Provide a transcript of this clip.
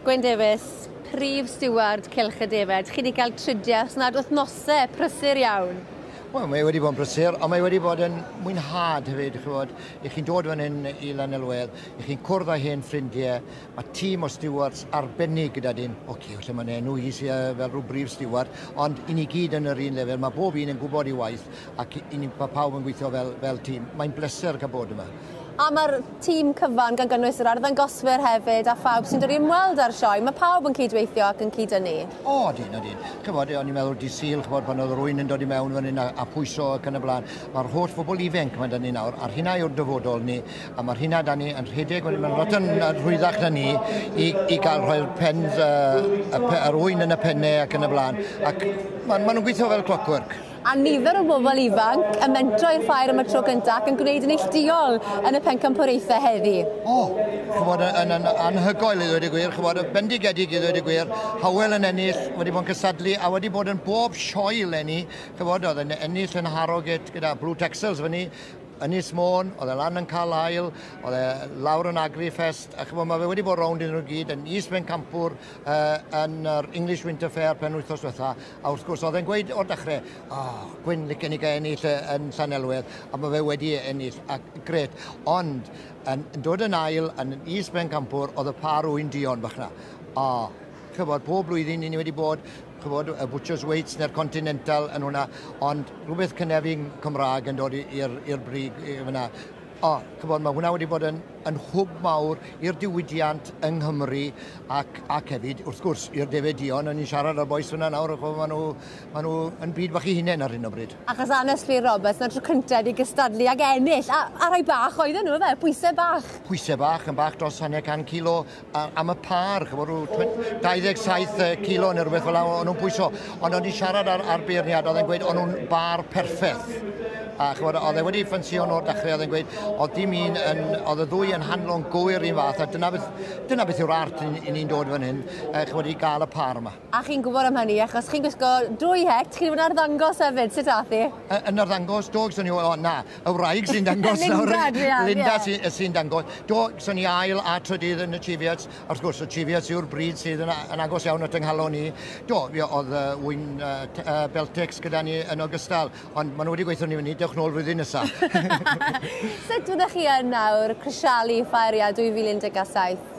Gwen Davies, Prif Stiward Cylch y Defaid. Chi wedi cael tridiau os nad wythnosau, prysur iawn. Wel, mae wedi bod yn brysur, ond mae wedi bod yn mwynhad hefyd, chi'n bod, i chi'n dod fan hyn i Lanelwedd, i chi'n cwrdd â hen ffrindiau, mae tîm o stewards arbennig gyda dyn, o okay, lle mae'n enw i sydd fel rhyw brif steward, ond i ni gyd yn yr un lefel, mae bob un yn gwybod ei waith, ac i ni pa pawb yn gweithio fel, fel tîm. Mae'n bleser cael bod yma. A mae'r tîm cyfan, gan gynnwys yr arddangoswyr hefyd a phawb sy'n dod i ymweld â'r sioe, mae pawb yn cydweithio ac yn cyd-dynnu? O, dyn, o dyn. Chybod, o'n i'n meddwl di syl, chybod, pan oedd rwy'n yn dod i mewn fan hyn a, a phwyso ac yn y blaen. Mae'r holl fobl ifenc mae da ni nawr, a'r hynna yw'r dyfodol ni, a mae'r hynna da ni yn rhedeg, mae'n ma lot yn rhwyddach na ni i, i gael rhoi'r pens, uh, yr ŵyn yn y pennau ac yn y blaen. Ac maen ma nhw'n gweithio fel clockwork. a nifer o bobl ifanc yn mentro i'r ffair am y tro cyntaf ac yn gwneud yn neillduol yn y Pencampwriaethau heddi. O, chybod, yn, yn anhygoel i ddweud y gwir, chybod, bendigedig i ddweud y gwir, Howell yn ennill, wedi bod yn cysadlu a wedi bod yn bob sioe lenni, chybod, oedd yn ennill yn Harrogate gyda Blue Texels fyny, Ynys Môn, oedd e lan yn cael ail, oedd e lawr yn Agri Fest, a chymod, mae fe wedi bod rownd iddyn nhw gyd yn East Bencampwr, uh, yn yr English Winter Fair pen wythnos diwetha, A wrth gwrs, oedd e'n gweud o'r dechrau, o, Gwyn Licken i gael ennill e yn Llanelwedd, a mae fe wedi e ennill, a gret. Ond, yn, yn dod yn ail, yn is Bencampwr, oedd y par wy'n dion bach na. O, chybod, pob blwyddyn i ni wedi bod, chybod, y Butcher's Weights neu'r Continental yn hwnna, ond rhywbeth cynefin Cymraeg yn dod i'r brig fyna. O, ch'mod, mae hwnna wedi bod yn, yn hwb mawr i'r diwydiant yng Nghymru ac, ac hefyd, wrth gwrs, i'r defaid dion. O'n i'n siarad â'r bois fyna nawr, ch'mod, maen nhw, maen nhw yn byd bach i hunain ar hyn o bryd. Achos Anest Llŷr Roberts, na tro cyntaf i gystadlu ac ennill, a, a rhai bach oedden nhw, efe, pwysau bach. Pwysau bach, yn bach dros hanner can kilo, am y pâr, chymod, rhyw 27 yy, kilo neu rhywbeth fel 'na o'n nhw'n pwyso. Ond o'n i'n siarad ar, ar beirniad, oedd e'n gweud o'n nhw'n bar perffaith. A chymod, oedd e wedi ffansio nhw o'r dechrau, oedd e'n gweud, oedd dim un yn, oedd y ddwy yn handlo'n gywir un fath, a dyna beth, dyna beth yw'r art i, i ni'n dod fan hyn, uh, chymod, i gael y pâr yma. A chi'n gwybod am hynny, achos chi'n gwisgo dwy het, chi'n mynd arddangos hefyd, sut ath i? Y, yn arddangos, do, gyswn i, o na, y wraig sy'n dangos nawr. Linda, dwi am, Linda yeah. sy'n sy dangos. Do, gyswn i ail a trydydd yn y Cheviets, a wrth gwrs y Cheviets yw'r bryd sydd yn, yn agos iawn at ynghalon ni. Do, fi oedd uh, wy'n uh, uh, Beltex gyda ni yn ogystal, ond maen nhw wedi gweithio ni fyny, dewch nôl flwyddyn nesaf. sut fyddech chi yn nawr, Crisialu, Ffaeria 2017?